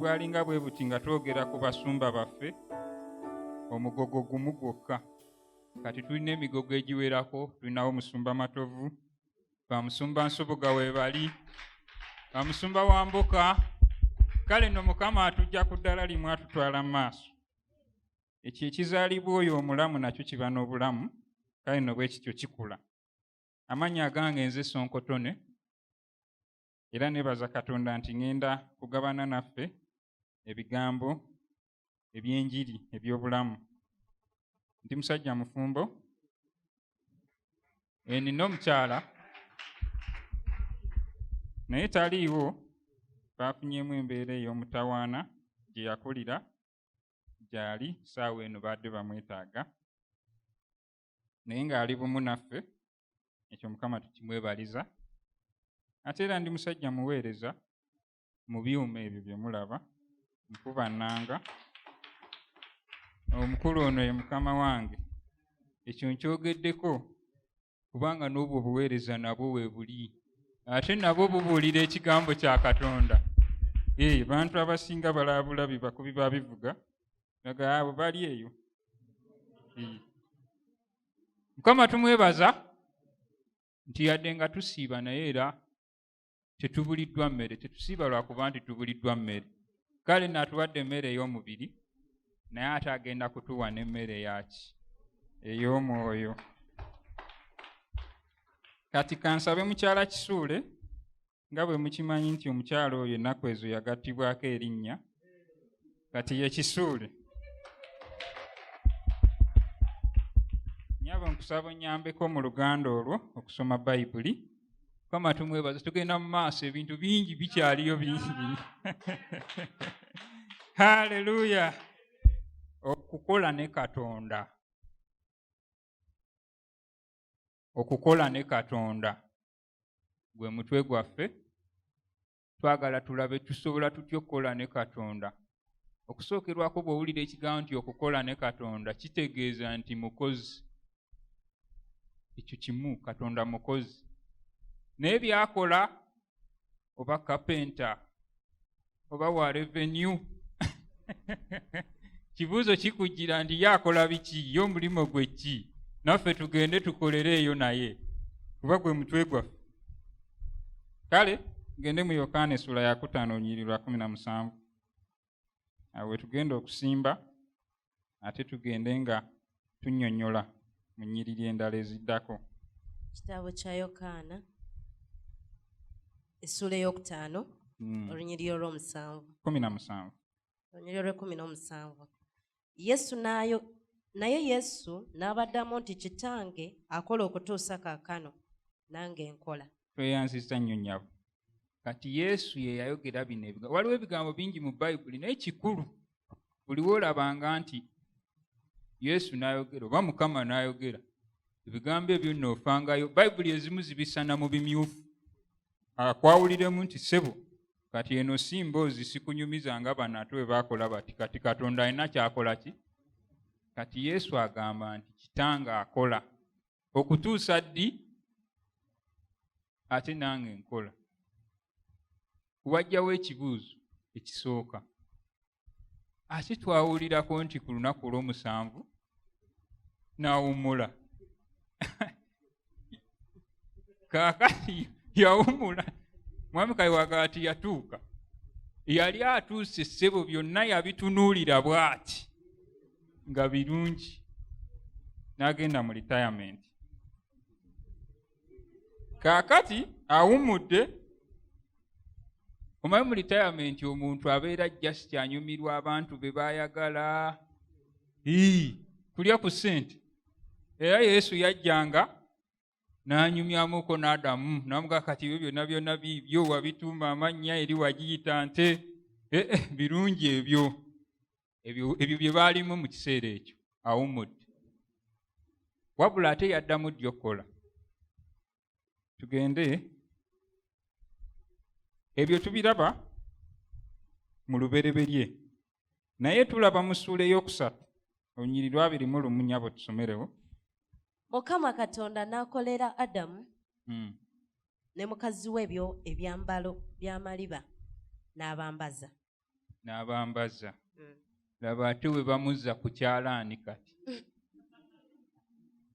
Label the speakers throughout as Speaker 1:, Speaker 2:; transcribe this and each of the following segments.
Speaker 1: bwalinga bwe buti nga twogera ku basumba baffe omugogo gumu gwokka kati tulina emigogo egiwerako tulinawo musumba matovu bamusumba nsoboga webali bamusumba wa mboka kale no mukama atujja ku ddala limu atutwala mu maaso ekyo ekizaalibwa oyo omulamu nakyo kiba n'obulamu kale no bwe kityo kikula amannya agange nze sonkotone era nebaza katonda nti ŋenda kugabana naffe ebigambo ebyenjiri ebyobulamu ndi musajja mufumbo enina eh, omukyala naye taliiwo baafunyemu embeera ey'omutawaana gye yakulira gyali saawa eno baadde bamwetaaga naye ng'ali bumu naffe ekyo mukama tukimwebaliza ate era ndi musajja muweereza mu byuma ebyo bye mulaba nkuba nnanga omukulu ono ye mukama wange ekyo nkyogeddeko kubanga n'obwo obuweereza nabwo weebuli ate nabwo bubuulira ekigambo kya katonda ee eh, bantu abasinga balaabula bibakubi ba bivuga naga abo bali eyo eh. mukama tumwebaza nti yadde nga tusiiba naye era tetubuliddwa mmere tetusiiba lwakuba nti tubuliddwa mmere kale natuwadde emmere ey'omubiri naye ate agenda kutuwa n'emmere yaki ey'omwoyo kati kansabe mukyala kisuule nga bwe mukimanyi nti omukyala oyo ennaku ezo yagattibwako erinnya kati yekisuule nyabo nkusaba onyambeko mu luganda olwo okusoma bayibuli kama tumwebaza tugenda mu maaso ebintu bingi bikyaliyo bingi haleluya okukola ne katonda okukola ne katonda gwe mutwe gwaffe twagala tulabe tusobola tutya okukola ne katonda okusookerwako bw'owulira ekigambo nti okukola ne katonda kitegeeza nti mukozi ekyo kimu katonda mukozi naye byakola oba kapenta oba wa revenue kibuuzo kikujjira nti ye akola biki ye omulimu gwe ki naffe tugende tukolere eyo naye kuba gwe mutwe gwaffe kale gende mu yokaana esula yakutaano onyiri lwa kumi na musanvu awo wetugenda okusimba ate tugende nga tunyonyola mu nyiriri endala eziddako kitabo
Speaker 2: kya yokaana essuula eyokutaano hmm. olunyiriri olwomusanvu kumi na musanvu
Speaker 1: olunyiriri
Speaker 2: olwekumi n'omusanvu yesu nayo naye yesu n'abaddamu nti kitange akola okutuusa kaakano nange nkola tweyanziza nnyo
Speaker 1: nyabo kati yesu ye yayogera bino ebigambo waliwo ebigambo bingi mu bayibuli naye kikulu buliwo olabanga nti yesu n'ayogera oba mukama n'ayogera ebigambo ebyo noofangayo bayibuli ezimu zibisana mu bimyufu akwawuliremu nti sebo kati eno si mboozi sikunyumiza nga bano ate bwe bakola bati kati katonda alina kyakola ki kati yesu agamba nti kitanga akola okutuusa ddi ate nange nkola kubajjawo ekibuuzo ekisooka ate twawulirako nti ku lunaku olw'omusanvu n'awummula kaakati yawummula mwami kayiwaga ati yatuuka yali atuuse ssebo byonna yabitunuulira bw'ati nga birungi n'agenda mu retirement kaakati awummudde omanyi mu litayamenti omuntu abeera just anyumirwa abantu be bayagala kulya ku ssente era yesu yajjanga n'anyumyamuko n'adamu namuga kati ebyo byonna byonna biibyo wabituuma amannya eri wagiyita nte eh, eh, birungi ebyo ebyo bye baalimu mu kiseera ekyo awummudde wabula ate yaddamu ddi okukola tugende ebyo tubiraba mu lubereberye naye tulaba mu ssuula ey'okusatu olunyiri lwabiri mu lumu nyabo tusomerewo mukama
Speaker 2: katonda n'akolera adamu hmm. ne mukazi we byo ebyambalo by'amaliba n'abambaza
Speaker 1: n'abambaza mm. laba ate bwe bamuzza ku kyalaani kati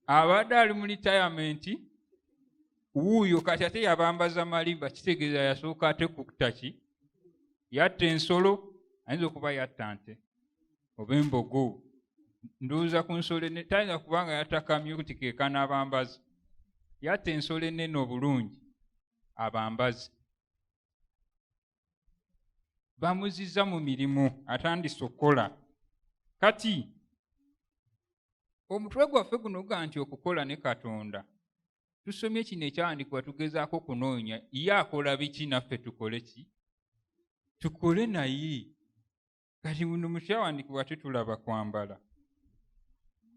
Speaker 1: abadde ali mu litayamenti wuuyo kati ate yabambaza malimba kitegeeza yasooka ate kuktaki yatta ensolo ayinza okuba yatta nte oba embogo ndowooza ku nsolo ene tayinza kubanga yatakamye kuti kekana abambazi yatta ensolo enene obulungi abambazi bamuziza mu mirimu atandise okukola kati omutwe gwaffe guno guga nti okukola ne katonda tusomye kino ekyawandikibwa tugezaako okunoonya ye akola biki naffe tukole ki tukole naye kati buno mukyawandikibwa tetulaba kwambala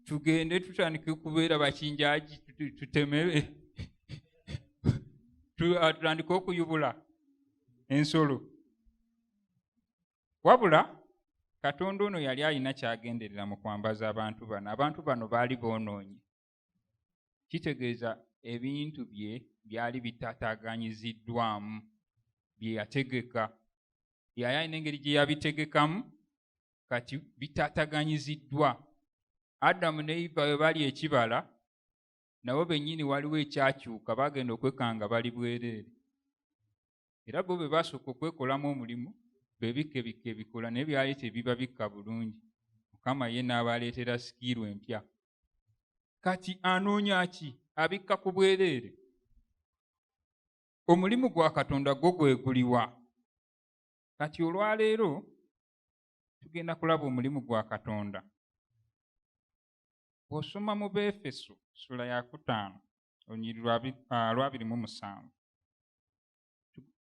Speaker 1: tugende tutandike okubeera bakinjaji tutemere ah, tutandike okuyubula ensolo wabula katonda ono yali alina kyagenderera mu kwambaza abantu bano abantu bano baali boonoonyi kitegeeza ebintu bye byali bitataaganyiziddwamu bye yategeka yali alina engeri gye yabitegekamu kati bitataaganyiziddwa adamu ne iva bwe bali ekibala nabo bennyini waliwo ekyakyuka bagenda okwekanga bali bwereere era bo be baasooka okwekolamu omulimu bebikkebikka ebikola naye byali tebibabikka bulungi mukama ye n'abaleetera sikiiru empya kati anoonya ki abikka ku bwereere omulimu gwa katonda gwo gweguliwa kati olwaleero tugenda kulaba omulimu gwa katonda bw'osoma mu beefeso sula yakutaano olunyiri lwabiri mu musanvu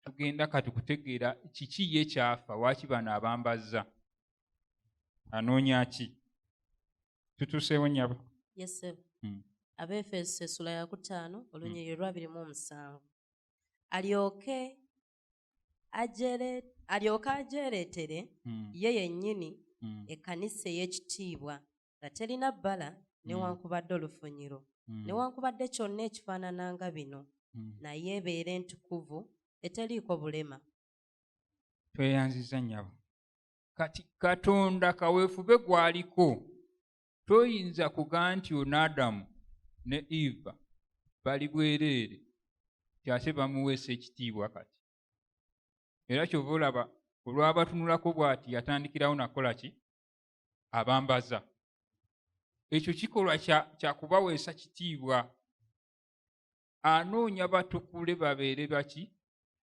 Speaker 1: tugenda kati kutegeera kiki ye kyafa waaki bano abambazza anoonya ki tutuuseewo nyabo yesebo hmm.
Speaker 2: abeefeso esula yakutaano olunyiri hmm. lwabiri mu omusanvu alyoke alyoke agyereetere hmm. ye yennyini hmm. ekkanisa ey'ekitiibwa nga terina bbala hmm. newankubadde olufunyiro newankubadde kyonna ekifaanana nga bino naye ebeere entukuvu eteriiko bulema
Speaker 1: tweyanziza nyabo kati katonda kaweefube gwaliko toyinza kuga nti ono adamu ne eva bali bwereere kyase bamuweesa ekitiibwa kati era kyova olaba olwabatunulako bwati yatandikirawo nakola ki abambaza ekyo kikolwa kyakubaweesa kitiibwa anoonya batukule babeere baki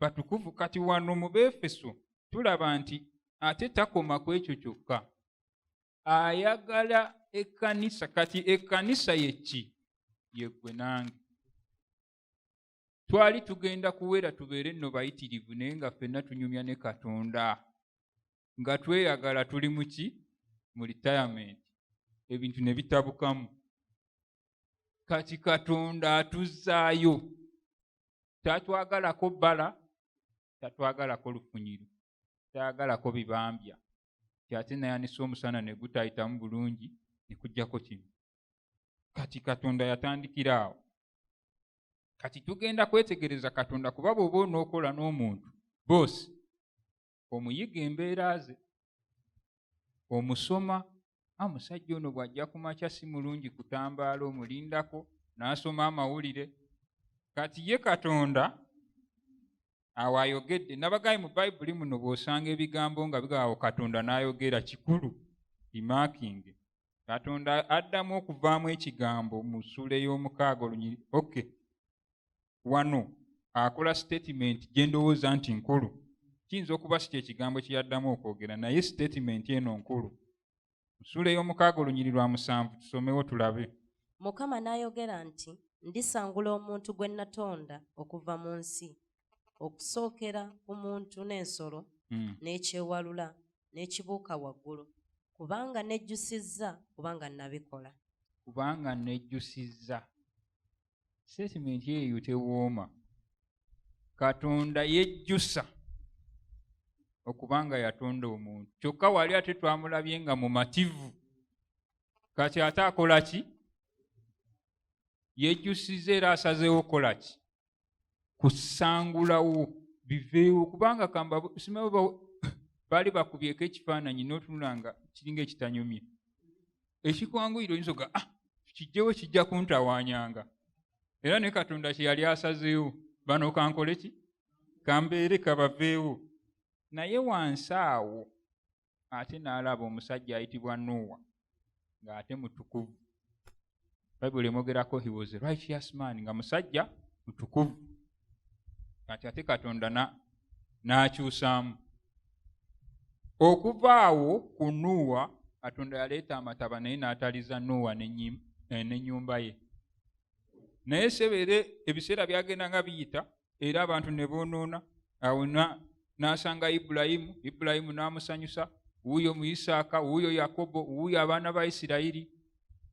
Speaker 1: batukuvu kati wano mu beefeso tulaba nti ate takoma ku ekyo kyokka ayagala ekkanisa kati ekkanisa yekki yeggwe nange twali tugenda kuwera tubeere nno bayitirivu naye nga ffenna tunyumya ne katonda nga tweyagala tuli muki mu retirement ebintu ne bitabukamu kati katonda atuzzaayo tatwagalako bbala tatwagalako lufunyiro tayagalako bibambya nti ate nayanisa omusana ne gutayitamu bulungi ne kujjako kino kati katonda yatandikira awo kati tugenda kwetegereza katonda kuba bwoba onookola n'omuntu boosi omuyige embeera ze omusoma a ah, musajja ono bw'ajja ku makya si mulungi kutambaala omulindako n'asoma amawulire kati ye katonda awo ayogedde nabagayi mu bayibuli muno bw'osanga ebigambo nga bigawo katonda n'ayogera kikulu imakinge katonda addamu okuvaamu ekigambo mu ssuula ey'omukaaga olunyiri oky wano akola sitatimenti gye ndowooza nti nkulu kiyinza okuba si kyekigambo kye yaddamu okwogera naye sitatimenti eno nkulu nsuula ey'omukaaga olunyiri lwa musanvu tusomewo tulabe mukama
Speaker 2: n'ayogera nti ndisangula omuntu gwe natonda okuva mu nsi okusookera ku muntu n'ensolo hmm. n'ekyewalula n'ekibuuka waggulu kubanga nejjusizza kubanga nabikola kubanga
Speaker 1: nejjusizza sitetimenti eyo tewooma katonda yejjusa okubanga yatonda omuntu kyokka wali ate twamulabye nga mumativu kati ate akola ki yejjusiza era asazeewo okukola ki kusangulawo biveewo kubanga kamba simawe baali bakubyeko ekifaananyi notunula nga kiringa ekitanyumye ekikwanguyira oyinza oga ah, kijjewo kijja kuntawanyanga era ne katonda kyeyali asazeewo bano kankole ki kambeere kabaveewo naye wansi awo ate n'alaba omusajja ayitibwa nuuwa ng'ate mutukuvu bayibuli emwogerako he was a righteous man nga musajja mutukuvu kati ate katonda n'akyusaamu okuva awo ku nuuwa katonda yaleeta amataba naye n'ataliza nuuwa n'ennyumba eh, ye naye sebeere ebiseera byagenda nga biyita era abantu ne boonoona awo n'asanga ibulayimu ibulayimu n'amusanyusa wuuyo mu isaaka wuuyo yakobo wuuyo abaana ba isirayiri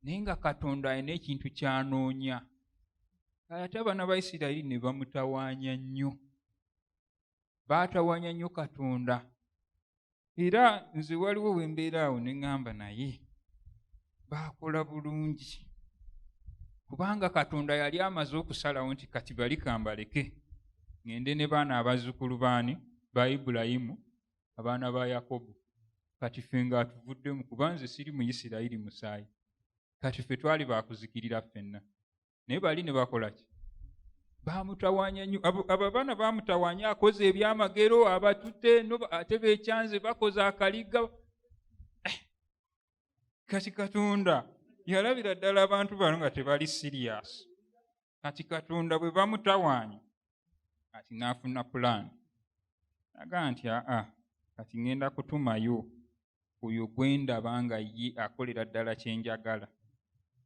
Speaker 1: naye nga katonda alina ekintu kyanoonya ate abaana ba isirayiri ne bamutawaanya nnyo baatawaanya nnyo katonda era nze waliwo wembeera awo neŋŋamba naye baakola bulungi kubanga katonda yali amaze okusalawo nti kati bali kambaleke ŋende ne baana abazzukulu baani ba ibulayimu abaana ba yakobo kati fe nga atuvuddemu kuba nze siri mu isirayiri musaayi kati fe twali bakuzikirira ffenna naye bali ne bakola ki bamutawanya nyo abo abaana bamutawanya akoze ebyamagero abatute ate bekyanze bakoze akaliga eh, kati katonda yalabira ddala abantu bano nga tebali sirias kati katonda bwe bamutawanya kati naafuna pulaani naga nti aa kati ŋŋenda kutumayo oyo gwe ndaba nga ye akolera ddala kye njagala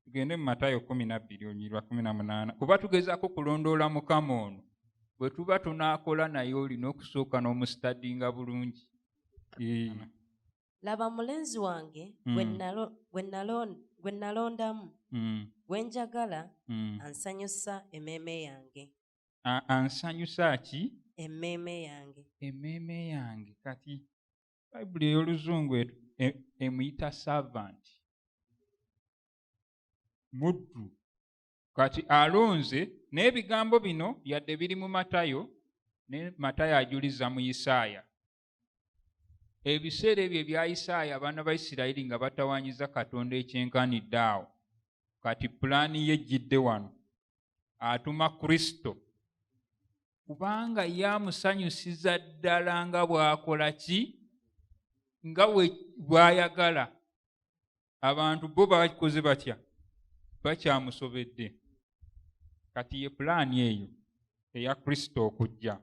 Speaker 1: tugende mu matayo kumi nabbiri onyirwa kumi na munaana kuba tugezaako kulondoola mukama ono bwe tuba tunaakola naye olina okusooka n'omusitadinga bulungi
Speaker 2: laba mulenzi wange gwe hmm. nalondamu hmm. gwe njagala hmm. ansanyusa emeeme yange ansanyusa
Speaker 1: ki emeeme yange
Speaker 2: emeeme yange
Speaker 1: kati bayibuli ey'oluzungu e, e, emuyita servant muddu kati alonze n'ebigambo bino yadde biri mu matayo ne matayo ajuliza mu isaaya ebiseera ebyo ebya isaaya abaana ba isirayiri nga batawanyiza katonda ekyenkanidde awo kati pulaani ye ejjidde wano atuma kristo kubanga ye amusanyusiza ddala nga bw'akola ki nga bw'ayagala abantu bo bakoze batya bakyamusobedde kati ye pulaani eyo eya kristo okujja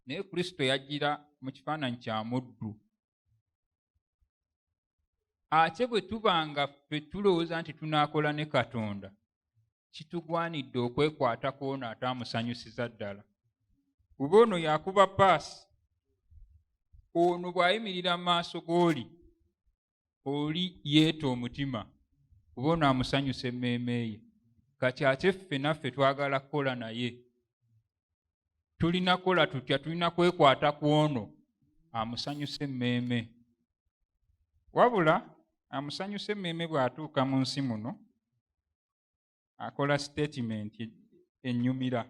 Speaker 1: naye kristo yajjira mu kifaananyi kya muddu ate bwe tuba nga ffe tulowooza nti tunaakola ne katonda kitugwanidde okwekwata kwona ataamusanyusiza ddala kuba ono yakuba paasi ono bw'ayimirira mu maaso g'oli oli yeeta omutima kuba ono amusanyusa emmeeme ye kati ate ffe naffe twagala kukola naye tulina kola tutya tulina kwekwata ku ono amusanyusa emmeeme wabula amusanyusa emmeeme bw'atuuka mu nsi muno akola sitatimenti ennyumira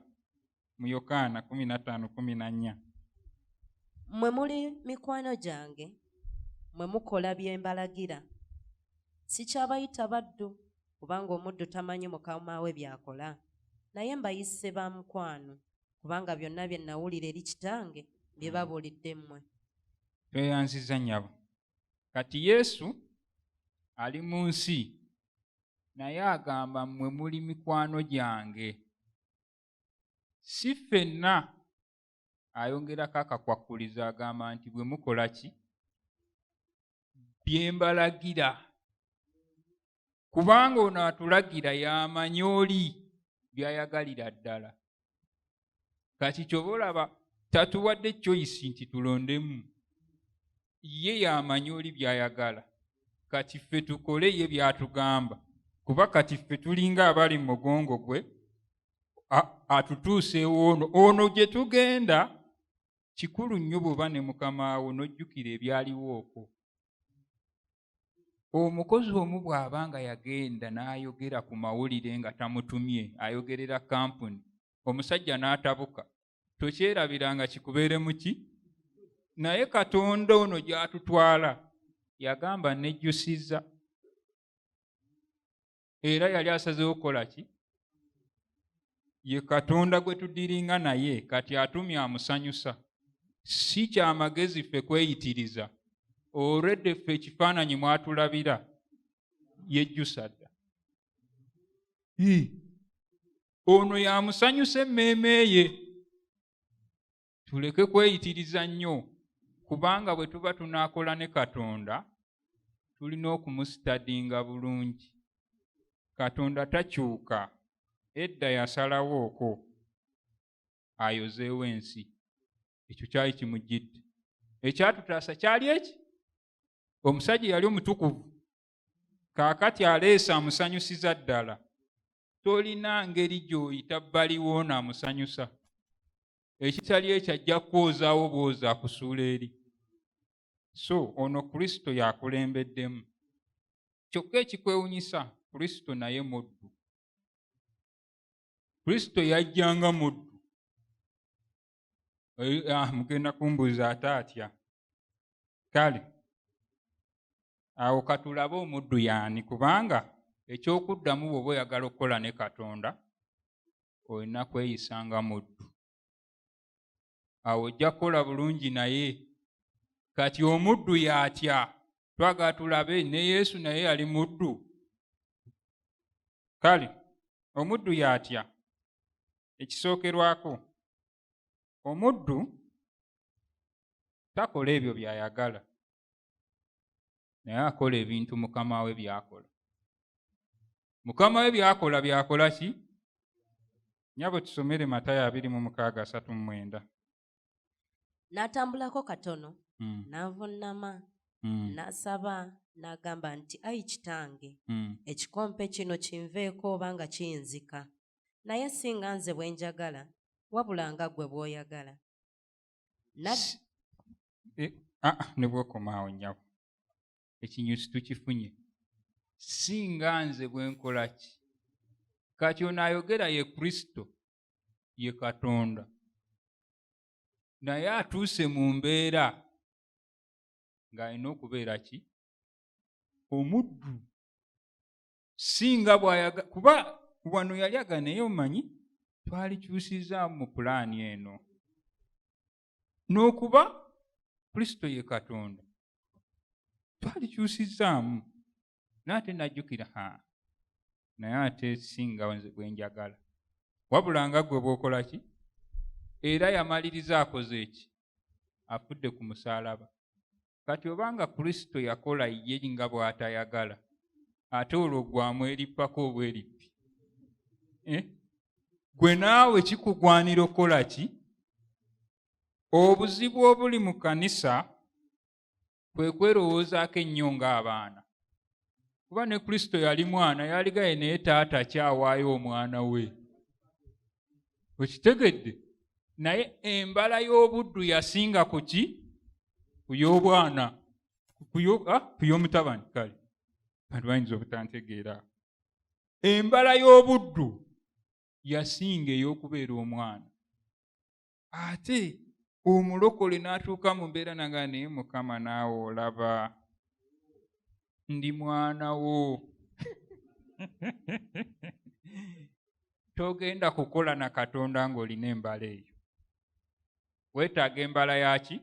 Speaker 1: mu yokaana 15:14
Speaker 2: mwe muli mikwano gyange mwe mukola bye mbalagira sikyabayita baddu kubanga omuddu tamanyi mukama we by'akola. Naye mbayise ba mukwano, kubanga byonna bye nnawulira eri Kitange mbibabuulidde mmwe. Tweyanzizza
Speaker 1: nnyabo. Kati Yesu ali mu nsi, naye agamba mmwe muli mikwano gyange. Si ffenna ayongerako akakwakkulizo agamba nti bwe mukola ki bye mbalagira kubanga ono atulagira y'amanyi oli by'ayagalira ddala kati kyoba olaba tatuwadde choyisi nti tulondemu ye yamanyi oli byayagala kati ffe tukole ye byatugamba kuba kati ffe tulinga abali mu mugongo gwe atutuuseewo ono ono gye tugenda kikulu nnyo bw'oba ne mukamaawo n'ojjukira ebyaliwo okwo omukozi omu bw'aba nga yagenda n'ayogera ku mawulire nga tamutumye ayogerera kampuni omusajja n'atabuka tokyerabiranga kikubeeremu ki naye katonda ono gy'atutwala yagamba nejjusiza era yali asazewo okukola ki ye katonda gwe tudiringa naye kati atumye amusanyusa si kyamagezi ffe kweyitiriza olwedde ffe ekifaananyi mwatulabira yejjusa dda ono yamusanyusa emmeeme ye tuleke kweyitiriza nnyo kubanga bwe tuba tunaakola ne katonda tulina okumusitadinga bulungi katonda takyuka edda yasalawo okwo ayozeewo ensi ekyo kyali kimujjidde ekyatutaasa kyali eki omusajja yali omutukuvu kaakati aleesa amusanyusiza ddala tolina ngeri gy'oyita baliwo naamusanyusa ekitali ekyo ajja kwozaawo bwoza akusuula eri so ono kristo yakulembeddemu kyokka ekikwewunyisa kristo naye muddu kristo yajjanga muddu ah, mugenda kumbuuza ate atya kale awo katulabe omuddu yaani kubanga ekyokuddamu bwoba oyagala okukola ne katonda olina kweyisa nga muddu awo ojja kukola bulungi naye kati omuddu yatya twagala tulabe ne yesu naye yali muddu kale omuddu yatya ekisookerwako omuddu takola ebyo by'ayagala naye akola ebintu mukama we byakola mukama we byakola byakola ki nyabo tusomere matayo abiri mu mukaaga asatu mu mwenda
Speaker 2: n'atambulako katono mm. n'avunnama mm. n'asaba n'agamba nti ayi kitange mm. ekikompe kino kinveeko oba nga kiyinzika naye si nga nze bwe njagala wabula nga ggwe bw'oyagala e, ah,
Speaker 1: ah, ne bwokomaawo nyabo ekinyusi tukifunye si nga nze bwe nkola ki kati onaayogera ye kristo ye katonda naye atuuse mu mbeera ng'alina okubeera ki omuddu singa bwayaga kuba wano yali aga naye omanyi twalikyusiza mu pulaani eno n'okuba kristo ye katonda twalikyusizaamu naye ate najjukira ha naye ate singa bwenjagala wabula nga gwe bwokola ki era yamaliriza akoze eki afudde ku musaalaba kati oba nga kristo yakola ye nga bw'atayagala ate olwo gwamu erippako oba erippi eh? gwe naawe kikugwanira okukola ki obuzibu obuli mu kanisa kwe kwerowoozaako ennyo ng'abaana kuba ne kristo yali mwana yaligaye naye taata akyawaayo omwana we okitegedde naye embala y'obuddu yasinga ku ki ku y'obwana ku ah, y'omutabani kale bantu bayinza obutantegeera embala y'obuddu yasinga ey'okubeera omwana ate omulokole n'atuuka mu mbeera naga naye mukama naawe olaba ndi mwana wo togenda kukola na katonda ng'olina embala eyo weetaaga embala yaki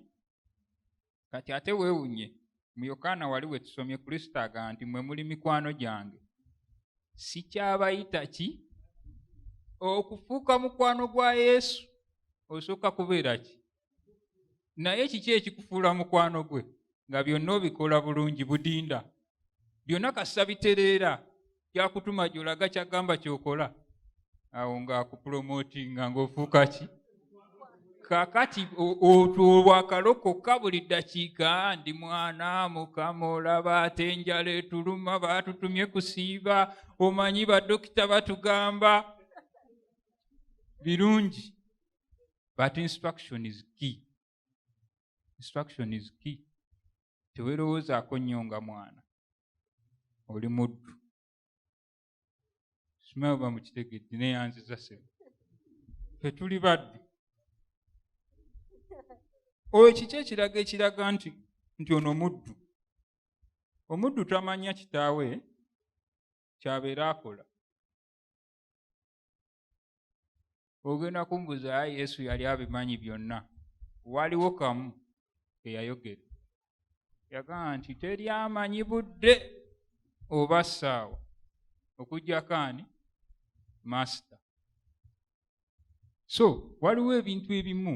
Speaker 1: kati ate weewunye mu yokaana wali we tusomye kristo aga nti mwe muli mikwano gyange sikyabayita ki okufuuka mukwano gwa yesu osooka kubeera ki naye kiki ekikufuula mukwano gwe nga byonna obikola bulungi budinda byonna kasita bitereera kyakutuma gyolaga kyagamba kyokola awo ngaakupromotinga ngaofuuka ki kakati otwo olwakalokoka buli ddakiika ndi mwana mukama olaba ate enjala etuluma baatutumye kusiiba omanyi badokita batugamba birungi but instruction is key instruction is key tewerowoozaako nnyo nga mwana oli muddu simaba mukitegedde neyanziza sebe fetuli baddu oyo kiki ekiraga ekiraga nti nti ono muddu omuddu tamanya kitaawe kyabeera akola ogenda kumbuza a yesu yali abimanyi byonna waliwo kamu eyayogera yagamba nti teri amanyi budde oba ssaawa okujjako ani masita so waliwo ebintu ebimu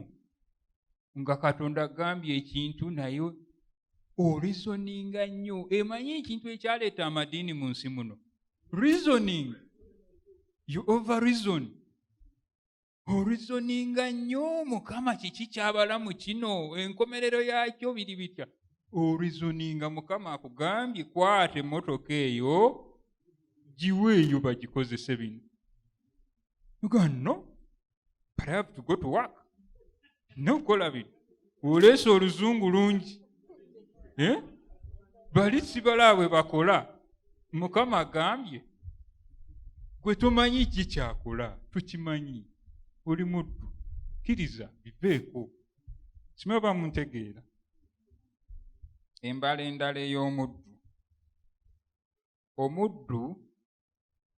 Speaker 1: nga katonda agambye ekintu naye orizoninga nnyo emanyi ekintu ekyaleeta amadiini mu nsi muno reasoning you over reason orizoninga nnyo mukama kiki kyabalamu kino enkomerero yakyo biri bitya orizoninga mukama akugambye kwata emotoka eyo giweeyo bagikozese bino ganno but i have to go to work nokukola bintu oleesa oluzungu lungi eh? bali sibalaabwe bakola mukama agambye gwe tomanyi ki kyakola tukimanyi oli muddu kkiriza biveeko simanyi oba muntegeera embala endala ey'omuddu omuddu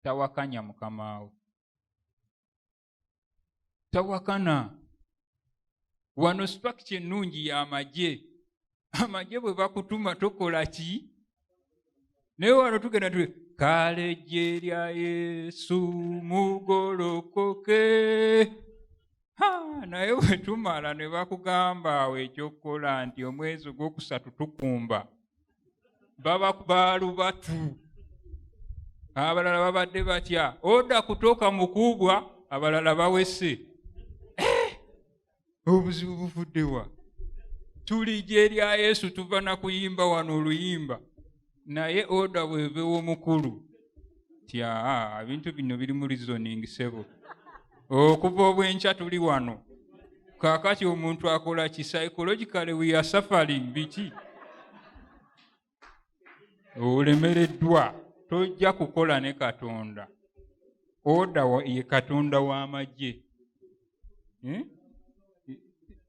Speaker 1: tawakanya mukamaawe tawakana wano situakiti ennungi y'amagye amagye bwe bakutuma tokola ki naye wano tugenda tu kale gye lya yesu mugolokoke naye wetumala ne bakugamba awo ekyokukola nti omwezi ogwokusatu tukumba baba balubatu abalala babadde batya oda kutoka mukubwa abalala bawese eh! obuzibu buvuddewa tuli gyerya yesu tuva nakuyimba wano oluyimba naye oda bwevewomukulu ti aa ebintu bino biri mu reasoning sebo okuva obwenkya tuli wano kakati omuntu akola ki psychologically we are suffering biki olemereddwa tojja kukola ne katonda oda ye katonda w'amagye hmm?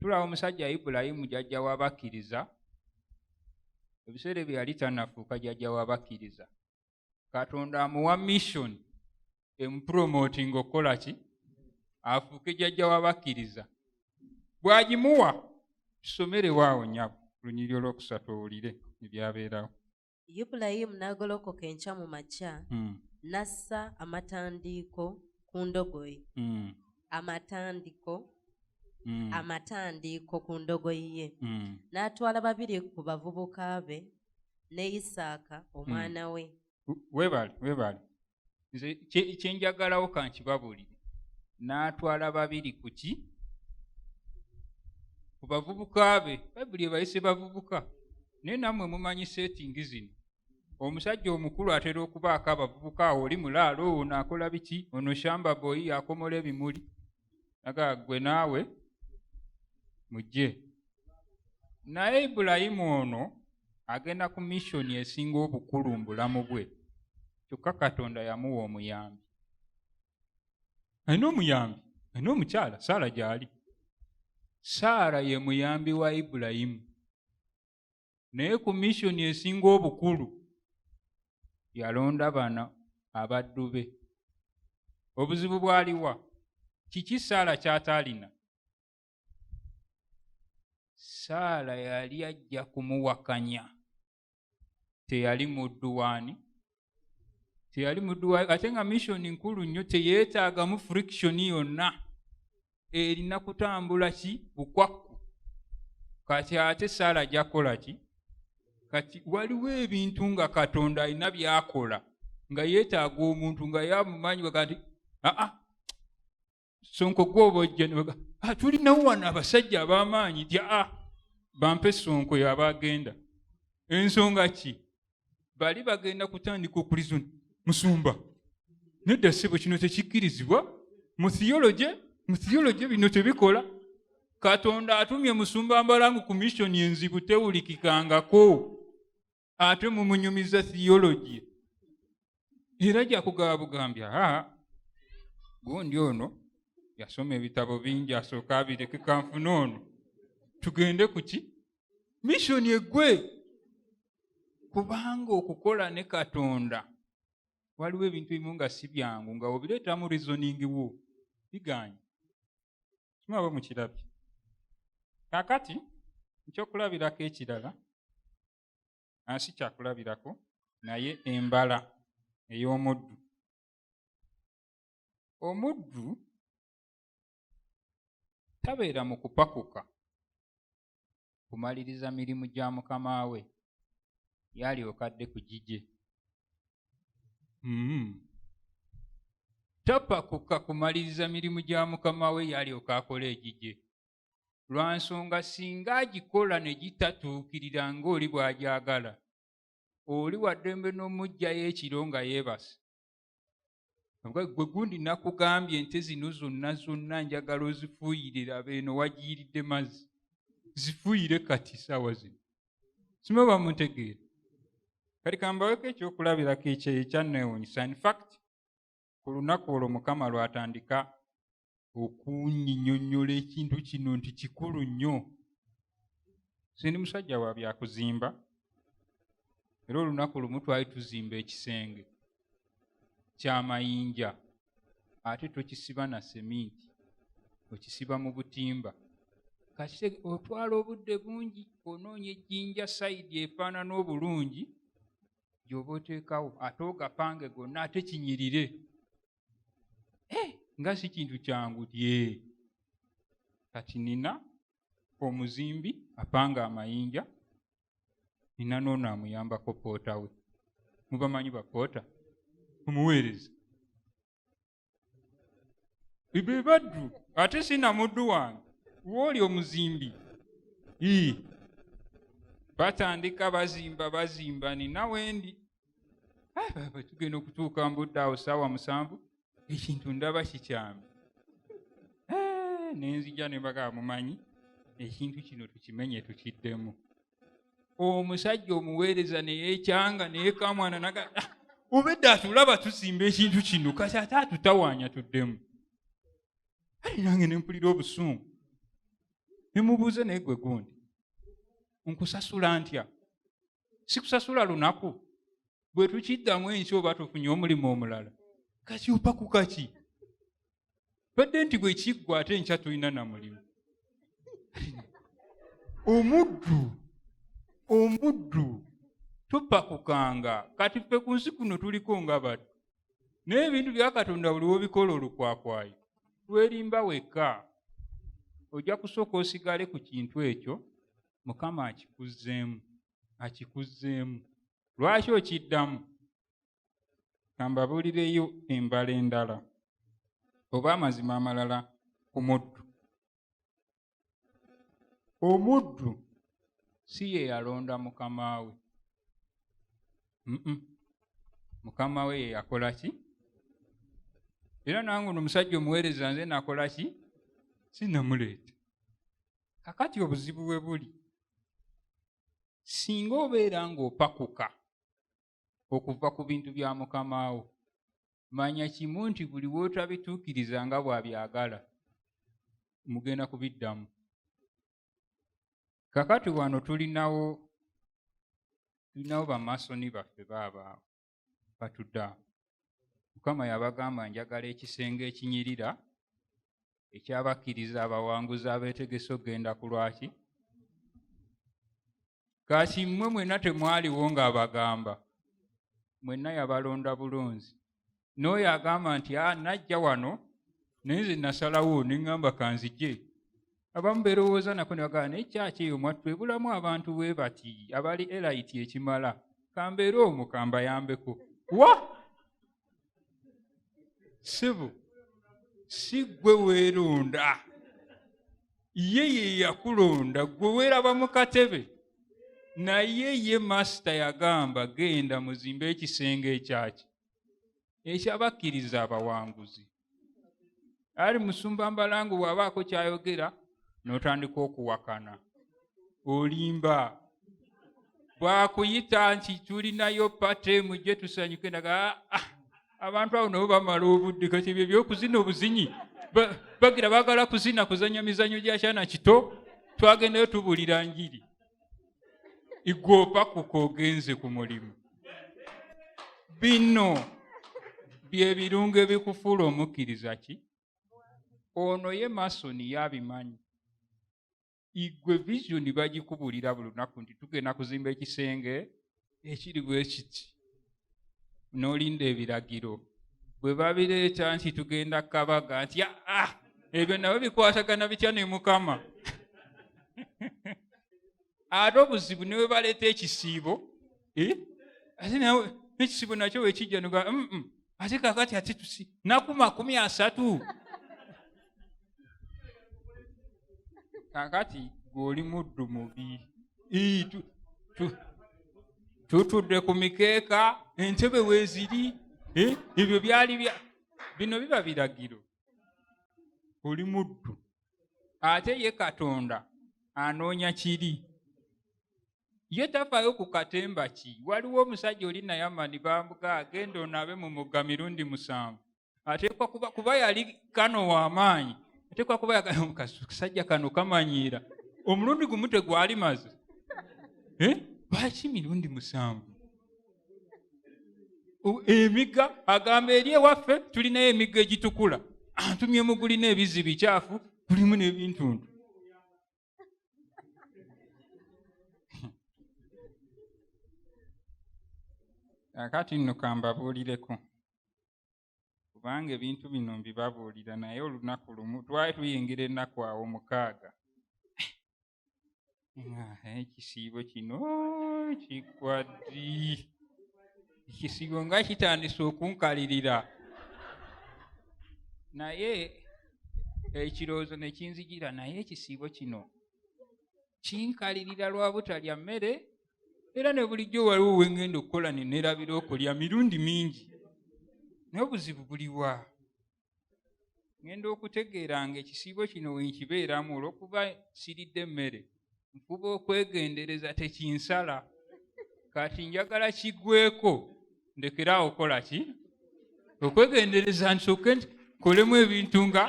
Speaker 1: tulaba omusajja ibulayimu jajja wabakkiriza ebiseera ebyo yali tanafuuka jajja wabakkiriza katonda amuwa mission emupromoting okukola ki afuuke jajja wabakkiriza bwagimuwa tusomerewo awo nyabo lunyiri olwokusatu owulire ebyabeerawo Ibulayimu
Speaker 2: n'agolokoka enkya mu makya mm. n'assa amatandiiko ku ndogoyi mm. amatandiko mm. amatandiiko ku ndogoyi ye mm. n'atwala babiri ku bavubuka be ne isaaka omwana mm. we webale webale
Speaker 1: nze kyenjagalawo kankibabulire n'atwala babiri ku ki ku bavubuka be bayibuli ebayise bavubuka naye nammwe mumanyi setingi zino omusajja omukulu atera okubaako abavubuka awo oli mulaalo ono akola biki ono shamba boyi akomola ebimuli aga gwe naawe mujje naye ibulayimu ono agenda ku missoni esinga obukulu mu bulamu bwe kyokka katonda yamuwa omuyambi alina omuyambi alina omukyala saala gyali saala ye muyambi wa ibulayimu naye ku missioni esinga obukulu yalonda bana abaddu be obuzibu bwaliwa kiki saala kyataalina saala yali ajja kumuwakanya teyali muddu waani teyali muduwa ate nga mission nkulu nnyo teyeetaagamu friction yonna erina kutambula ki bukwakku kati ate saala gyakola ki kati waliwo ebintu nga katonda alina byakola nga yeetaaga omuntu nga yamumanyi kati aa sonko gwobojja nebaga ah, tulinawo wano abasajja abamaanyi tya a ah, bampe sonko yaba agenda ensonga ki bali bagenda kutandika okulizuna musumba nedda sebo kino tekikkirizibwa mu theology mu theology bino tebikola katonda atumye musumba mbalangu ku missioni enzibu tewulikikangako ate mumunyumiza theology era jakugaba bugambi aa gundi ono yasoma ebitabo bingi asooka abireke kanfuna ono tugende ku ki missoni egwe kubanga okukola ne katonda waliwo ebintu ebimu nga si byangu nga obireetamu reasoning wo biganye kimwaba mukirabye kakati ekyokulabirako ekirala ansi kyakulabirako naye embala ey'omuddu omuddu tabeera mu kupakuka kumaliriza mirimu gya mukama we yalyoka dde ku gigye mm-hmm. tapakuka kumaliriza mirimu gya mukama we yalyoka akola egigye lwa nsonga singa agikola ne gitatuukirira ng'oli bw'agyagala oli waddembe n'omugjayo ekiro nga yeebase gwe gundi nakugambye ente zino zonna zonna njagala ozifuuyire laba eno wagiyiridde mazzi zifuuyire kati saawa zino sima bamuntegeera kati kambaweko ekyokulabirako ekyeyo ekyanneewunyisa infact ku lunaku olwo mukama lwatandika okunyinyonyola ekintu kino nti kikulu nnyo sendi musajja wa byakuzimba era olunaku lumu twali tuzimba ekisenge kyamayinja ate tokisiba na seminti okisiba mu butimba kati otwala obudde bungi onoonya ejjinja sayidi efaanana obulungi gyoba oteekawo ate ogapange gonna ate kinyirire eh, nga si kintu kyangu tye kati nina omuzimbi apanga amayinja nina noono amuyambako poota we mubamanyi bapoota omuweereza be baddu ate sina muddu wange wooli omuzimbi ii batandika bazimba bazimba nina wendi baba tugenda okutuuka mbudde awo saawa musanvu ekintu ndaba kikyami eh, nenzija nembaga mumanyi ekintu kino tukimenye tukiddemu omusajja omuweereza neyekyanga neyekamwana naga ah, obedda atulaba tusimba ekintu kino kati ate atutawanya tuddemu ali nange nempulira obusungu nemubuuze naye gwe gundi nkusasula ntya sikusasula lunaku bwe tukiddamu ensi oba tufunye omulimu omulala kakyupa ku kaki badde nti bwe kiggwa ate nkya tulina na mulimu omuddu omuddu tupakukanga kati ffe ku nsi kuno tuliko nga batu naye ebintu bya katonda buli wobikola olukwakwayo lwerimba wekka ojja kusooka osigale ku kintu ekyo mukama akikuzzeemu akikuzzeemu lwaki okiddamu kambabuulireyo embala endala oba amazima amalala ku muddu omuddu si ye yalonda mukama we mukama we ye yakola ki era nange ono omusajja omuweereza nze nakola ki sinamuleeta kakati obuzibu we buli singa obeera ng'opakuka okuva ku bintu bya mukamaawo manya kimu nti buli wootabituukiriza nga bw'abyagala mugenda kubiddamu kakati wano tulinawo tulinawo bamasoni baffe baabaawo batudde awo mukama yabagamba njagala ekisenge ekinyirira ekyabakkiriza abawanguzi abeetegese okugenda ku lwaki kati mmwe mwenna temwaliwo ng'abagamba mwenna yabalonda bulunzi n'oyo agamba nti a ah, najja wano naye nze nasalawo neŋŋamba kanzije abamu berowooza nako ne bagamba naye kyaki eyo mwattu ebulamu abantu bwe bati abali elayiti ekimala kambeera omu kambayambeko wa sibu si gwe weeronda ye ye yakulonda gwe weeraba mu katebe naye ye masita yagamba genda muzimbe ekisenge ekyaki ekyabakkiriza abawanguzi ali musumba mbalangu bwabaako kyayogera notandika okuwakana olimba bwakuyita nti tulinayo pate mujje tusanyuke naga ah, ah, abantu abo nabo bamala obudde kati byo byokuzina obuzinyi bagira bagala kuzina kuzanya mizanyo gyakyana kito twagendayo tubulira njiri igwe oba kukogenze ku mulimu bino byebirungo ebikufuula omukkiriza ki ono ye masoni yabimanyi igwe visioni bagikubulira buli lunaku nti tugenda kuzimba ekisenge ekiri bwe kiti n'olinda ebiragiro bwe babireeta nti tugenda kabaga nti aa ah, ah, ebyo nabo bikwatagana bitya ne mukama ate obuzibu ne bwe baleeta ekisiibo eh, ate nawe ekisiibo nakyo wekijja noga mm, mm, ate kakati ate tusi naku makumi asatu kakati gweoli muddu mubi tutudde ku mikeeka entebe weziri eh, ebyo byali bya bino biba biragiro oli muddu ate ye katonda anoonya kiri ye tafaayo ku katemba ki waliwo omusajja oli nayamani bambuga agenda onaabe mu mugga mirundi musanvu ateekwa kuba kuba yali kano w'amaanyi ateekwa kuba yakasajja kano kamanyiira omulundi gumu tegwali maze eh? lwaki mirundi musanvu emigga agamba eri ewaffe tulinayo emigga egitukula antumye mugulina ebizi bikyafu tulimu n'ebintuntu kakati nno kambabuulireko kubanga ebintu bino mbibabuulira naye olunaku lumu twali tuyingira ennaku awo mukaaga ekisiibo kino kikwaddi ekisigo nga kitandise okunkalirira naye ekirowoozo ne kinzijira naye ekisiibo kino kinkalirira lwa butalya mmere era ne bulijjo waliwo wengenda okukola nenerabira okulya mirundi mingi naye obuzibu buliwa ŋenda okutegeera nga ekisiibo kino wenkibeeramu olwokuba siridde emmere nfuba okwegendereza tekinsala kati njagala kigweko ndekeraawo okola ki okwegendereza nsoke nti kolemu ebintu nga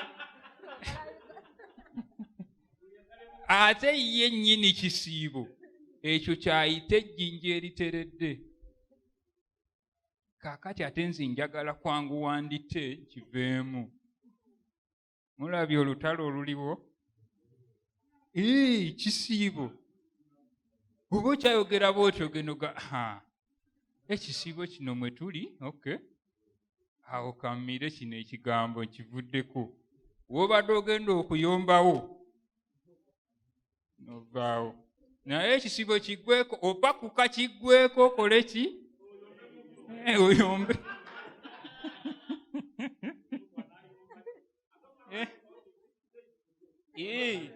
Speaker 1: ate ye nnyini kisiibo ekyo kyayita ejjinja eriteredde kaakati ate nze njagala kwanguwa ndite kiveemu mulabye olutalo oluliwo ee kisiibo oba okyayogera bwotyo genoga ekisiibo kino mwe tuli ok awo kammire kino ekigambo kivuddeko wobadde ogenda okuyombawo novaawo naye ekisibo kiggweko opakuka kiggweko okole ki eh, oyombe eh. Eh.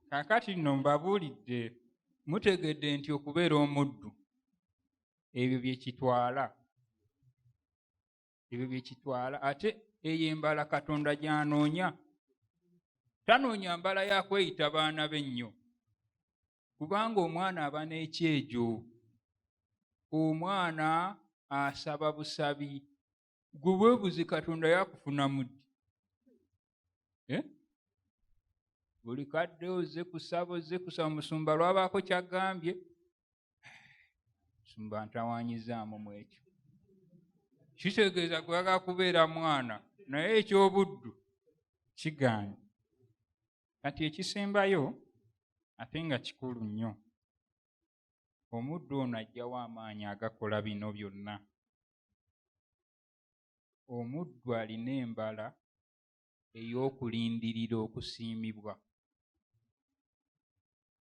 Speaker 1: kakati nno mbabuulidde mutegedde nti okubeera omuddu ebyo bye kitwala ebyo byekitwala ate eyo embala katonda gyanoonya tanoonya mbala yakweyita baana be nnyo kubanga omwana aba n'ekyejo omwana asaba busabi gwe webuzi katonda yakufuna muddi eh? buli kadde oze kusaba oze kusaba musumba lwabaako kyagambye sumba ntawanyizaamu mu ekyo kitegeeza kwagala kubeera mwana naye ekyobuddu kigaanyi kati ekisembayo ate nga kikulu nnyo omuddu ono ajjawo amaanyi agakola bino byonna omuddu alina embala ey'okulindirira okusiimibwa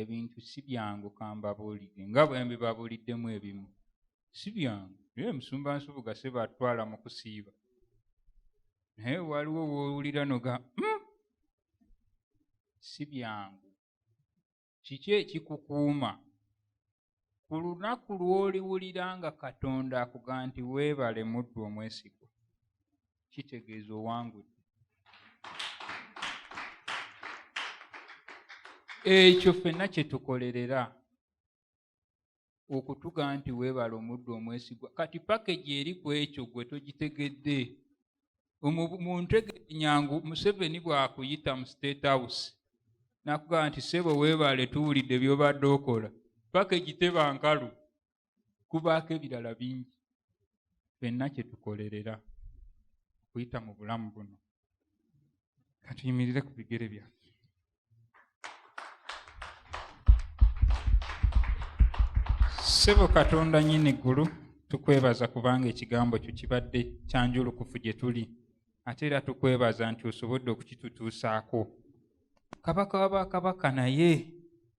Speaker 1: ebintu si byangu kambabuulidde nga bwe mbibabuuliddemu ebimu si byangu naye omusumba nsubuga se batwala mu kusiiba naye waliwo woowulira noga hmm? si byangu kiki ekikukuuma ku lunaku lw'oliwulira nga katonda akuga nti weebale muddu omwesigwa kitegeeza owangudde ekyo fenna kye tukolerera okutuga nti weebale omuddu omwesigwa kati pakegi eri ku ekyo gwe togitegedde muntegenyangu museveni bwakuyita mu state house nakugamba nti sebo webaale tuwulidde byobadde okola paka egiteba nkalu kubaako ebirala bingi fenna kyetukolerera okuyita mu bulamu buno katuyimirire ku bigere byaffe Sebo Katonda nyini gulu tukwebaza kubanga ekigambo kyo kibadde kyanjulukufu gye tuli ate era tukwebaza nti osobodde okukitutuusaako kabaka wa bakabaka naye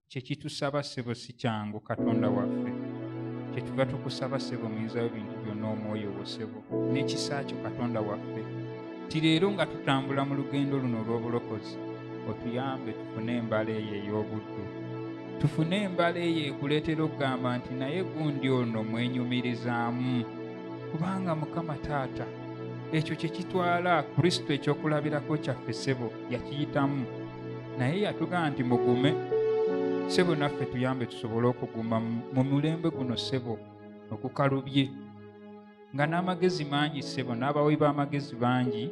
Speaker 1: kyekitusaba sebo si kyangu katonda waffe kyetuva tukusaba sebo muyinzayo bintu byonna omwoyo wo sebo n'ekisa kyo katonda waffe ti leero nga tutambula mu lugendo luno olw'obulokozi otuyambe tufune embala eyo ey'obuddu tufune embala eyo ekuleetera okugamba nti naye gundi ono mwenyumirizaamu kubanga mukama taata ekyo kye kitwala kristo ekyokulabirako kyaffe sebo yakiyitamu naye yatugamba nti mugume sebo naffe tuyambe tusobole okuguma mu mulembe guno sebo okukalubye nga n'amagezi mangi ssebo n'abawi b'amagezi bangi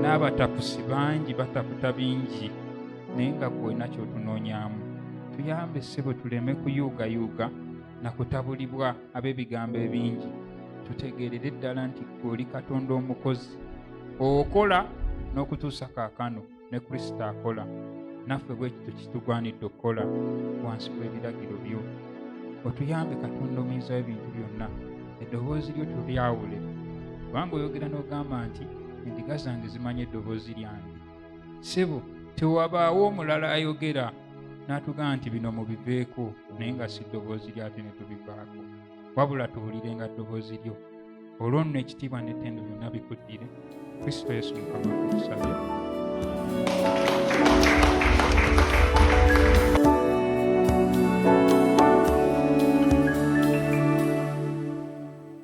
Speaker 1: n'abatapusi bangi bataputa bingi naye nga kwolina kyotunoonyamu tuyambe ssebo tuleme kuyuugayuuga na kutabulibwa ab'ebigambo ebingi tutegeerere ddala nti gwe oli katonda omukozi okola n'okutuusa kaakano ne kristo akola naffe bwekityo kitugwanidde okukola wansi w'ebiragiro byo otuyambe katonda omuyinza w'ebintu byonna eddoboozi lyo tulyawule kubanga oyogera n'ogamba nti endiga zange zimanya eddoboozi lyange sebo tewabaawo omulala ayogera n'atugamba nti bino mubiveeko naye nga si ddoboozi lyate ne tubivaako wabula tuwulirenga ddoboozi lyo olwo nno ekitiibwa n'ettendo byonna bikuddire kristo yesu mukama tukusabye